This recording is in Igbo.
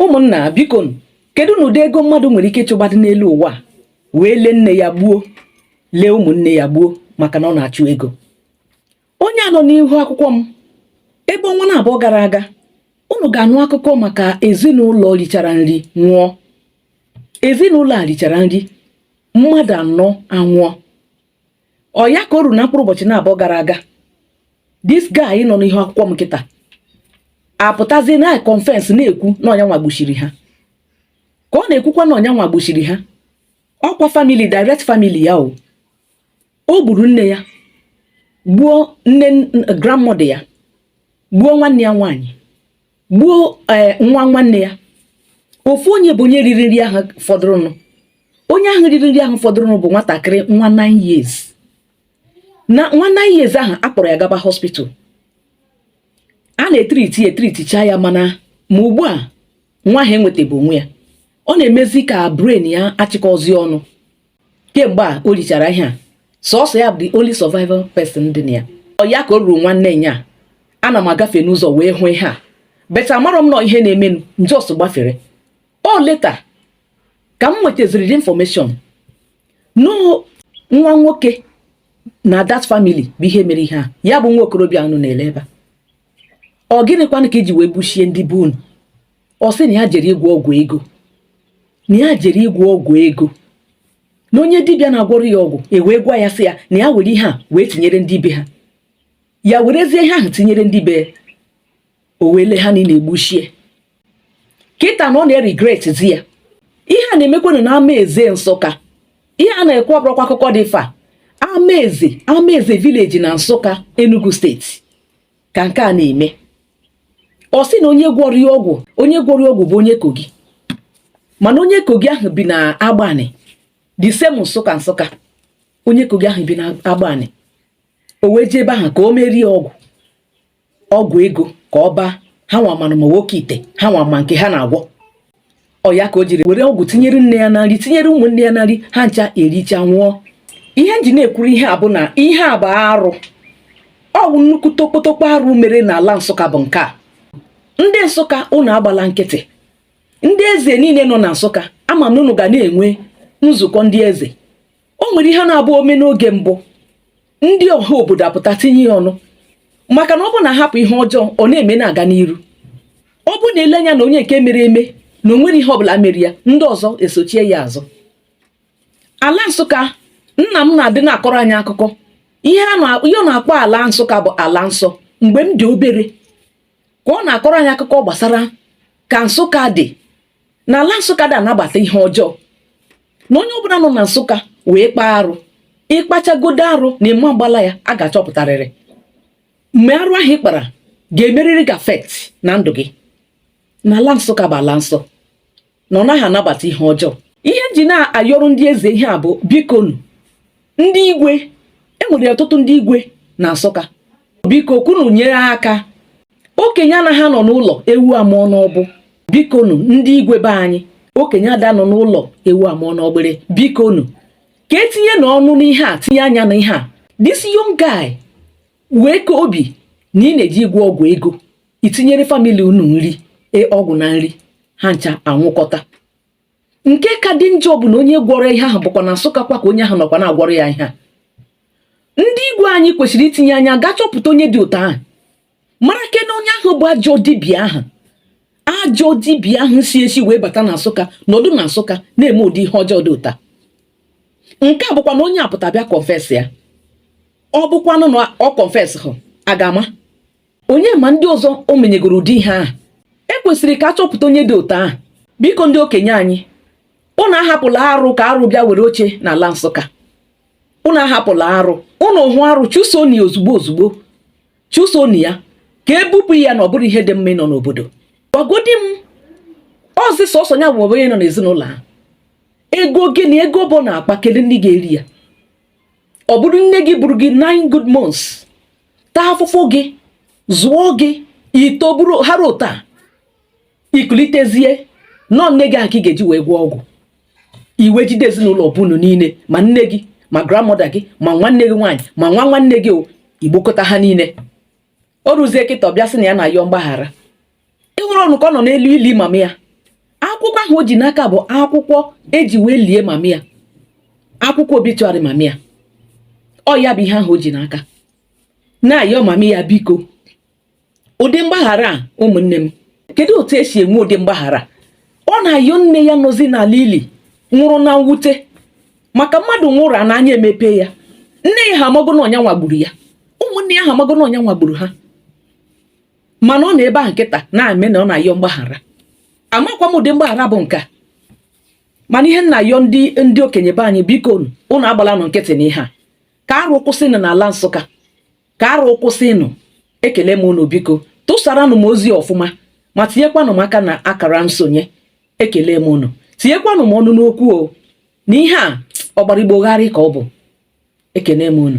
ụmụnna biko kedunụ ụdị ego mmadụ nwere ike ịchụgbadị n'elu ụwa wee lee nne ya gbuo lee ụmụnne ya gbuo maka na ọ na-achụ ego onye a nọ n'ihu akwụkwọ m ebe ọnwa na abụọ gara aga unu ga-anụ akụkọ maka ezinụlọ richara nri nwụọ ezinụlọ a richara nri mmadụ anọ anwụọ ọ ya ka o ruru na mkpụrụ ụbọchị na-abụọ gara aga this guy nọ n'ihu akwụkwọ m kịta apụtazie na-econfess na-ekwu na ọ nya nwa gbuchiri ha ka ọ na-ekwukwa na ọ nya nwa gbuchiri ha ọ kwa family direct family ya o o gburu nne ya gbuo nne grandmother ya gbuo nwanne ya nwaanyị gbuo eh, nwa nwanne ya ofu onye bụ onye riri nri ahụ fọdụrụnụ onye ahụ riri nri ahụ fọdụrụnụ bụ nwatakịrị nwa 9 years na nwa 9 years ahụ a kpọrọ ya gaba hospital a na-etriti etriticha ya mana ma ugbu a nwa ahụ enwetabe onwe ya ọ na-emezi ka brain ya achịkọzi ọnụ kemgbe a o richara ihe a sọsọ ya bụ the only survivor person dị na ya ọ ya ka o ruru nwanne nyaa ana m agafe n'ụzọ wee hụ ihe a but amarọ m na ọ ihe na-emenụ m just gbafere ọ later ka m nwetaziri the information na ọ nwa nwoke na that family bụ ihe mere ihe a ya bụ nwa okorobịa a unu na-ele ebe a ọ gịnịkwanụ ka i ji wee gbuchie ndị be unu ọ sị na ya jere ịgwọ ọgwụ ego na ya jere ịgwọ ọgwụ ego na onye dibịa na-agwọrọ ya ọgwụ wee gwa ya sị ya na ya were ihe a wee tinyere ndị be ha ya werezie ihe ahụ tinyere ndị be o wee lee ha niile gbuchie kịta na ọ na-eregretzi ya ihe a na-emekwanụ na amaeze nsụka ihe a na-ekwu ọ bụrọkwa akụkọ dị far amaeze amaeze village na nsụka enugu steeti ka nke a na-eme ọ sị na onye gwọrọ ya ọgwụ onye gwọrọ ya ọgwụ bụ onye kogi mana onye kogi ahụ bi na agbanị the same nsụka nsụka onye kogi ahụ bi na agbanị o wee jee ebe ahụ ka o meere ya ọgwụ ọgwụ ego ka ọ baa ha nwa manụ ma ọ wụ oke ite ha nwa ma nke ha na-agwọ ọ ya ka o jiri were ọgwụ tinyere nne ya na nri tinyere ụmụnne ya na nri ha ncha ericha nwụọ ihe m ji na-ekwuru ihe a bụ na ihe a bụ arụ ọ bụ nnukwu tokpotokpo arụ mere n'ala nsụka bụ nke a ndị nsụka ụnụ agbala nkịtị ndị eze niile nọ na nsụka ama m na ụnụ ga na-enwe nzukọ ndị eze o nwere ihe na-abụ ome n'oge mbụ ndị ọha obodo apụta tinye ya ọnụ maka na ọ bụ na ahapụ ihe ọjọọ ọ na-eme na-aga n'iru ọ bụ na ele anya na onye nke mere eme na o nwere ihe ọbụla mere ya ndị ọzọ esochie ya azụ ala nsụka nna m na-adị na-akọrọ anyị akụkọ ihe a na-akpọ ala nsụka bụ ala nsọ mgbe m dị obere ka ọ na-akọrọ anyị akụkọ gbasara ka nsụka dị na ala nsụka ada anabata ihe ọjọọ na onye ọbụla nọ na nsụka wee kpaa arụ ị kpachagodo arụ na ị ma agbala ya a ga-achọpụtarịrị mgbe arụ ahụ ị kpara ga-emerịrị gị affect na ndụ gị na ala nsụka bụ ala nsọ na ọ naghị anabata ihe ọjọọ ihe m ji na-ayọrọ ndị eze ihe a bụ bikonu ndị igwe enwere ọtụtụ ndị igwe na nsụka biko ka unu nyere aka okenye anaghị anọ n'ụlọ ewu amụọ n'ọgbụ bikonu ndị igwe be anyị okenye ada nọ n'ụlọ ewu amụọ n'ọgbụrị bikonu ka etinye na ọnụ n'ihe a tinye anya na ihe a this young guy wee kaa obi na ị na-eje ịgwọ ọgwụ ego itinyere family unu nri e, ọgwụ na nri ha ncha anwụkọta nke ka dị njọ bụ na onye gwọrọ ihe ahụ bụkwa na Nsụka kwa ka onye ahụ nọkwa na-agwọrọ ya ihe a ndị igwe anyị kwesịrị itinye anya gaa chọpụta onye dị otu ahụ mara kena onye ahụ bụ ajọ dibịa ahụ ajọ dibịa ahụ si esi wee bata na Nsụka nọdụ na Nsụka na-eme ụdị ihe ọjọọ dị ụta nke a bụkwa na onye a pụta bịa confess ya ọ bụkwanụ na ọ confess hụ a ga-ama onye ma ndị ọzọ o menyegoro ụdị ihe ahụ e kwesịrị ka a chọpụta onye dị otu ahụ biko ndị okenye anyị unu ahapụla arụ ka arụ bịa were oche n'ala nsụka unu ahapụla arụ unu hụ arụ chụsoni ozugbo ozugbo chụsoni ya ka ebupụ ya na ọ bụrọ ihe dị mma ịnọ n'obodo gwagodi m ọzị sọsọ ya bụ onye nọ n'ezinụlọ ahụ ego gịnị ego bụ na-akpa kedu ndị ga-eri ya ọ bụrụ nne gị buru gị nine good months taa afụfụ gị zụọ gị i toburu hara ụta ikulitezie na ọ nne gị ahụ ka ị ga-eji wee gwọọ ọgwụ i wee jide ezinụlọ be unu niile ma nne gị ma grandmother gị ma nwanne gị nwaanyị ma nwa nwanne gị igbukọta ha niile o ruzie kịta ọ bịa sị na ya na-ayọ mgbaghara ị hụrụnụ ka ọ nọ n'elu ili mama ya akwụkwọ ahụ o ji n'aka bụ akwụkwọ eji wee lie mama ya akwụkwọ obituary mama ya ọ ya bụ ihe ahụ o ji n'aka na-ayọ mama ya biko ụdị mgbaghara a ụmụnne m kedu otu esi enwe ụdị mgbaghara ọ na-ayọ nne ya nọzi n'ala ili nwụrụ na mwute maka mmadụ nwụrụ a n'anya emepe ya nne ya ha amago na ọ nya nwa gburu ya ụmụnne ya ha amago na ọ nya nwa gburu ha mana ọ nọ ebe a kịta na-eme na ọ na-ayọ mgbaghara amakwa m ụdị mgbaghara bụ nke a mana ihe m na-ayọ ndị okenye be anyị biko unu agbalanụ nkịtị na ihe a ka arụ kwụsịnụ n'ala nsụka ka arụ kwụsịnụ ekele m unu biko tụsaranụ m ozi ọfụma ma tinyekwanụ m aka na akara nsonye ekele m unu tinyekwanụ m ọnụ n'okwu o na ihe a ọgbara igbo gharị ka ọ bụ ekele m unu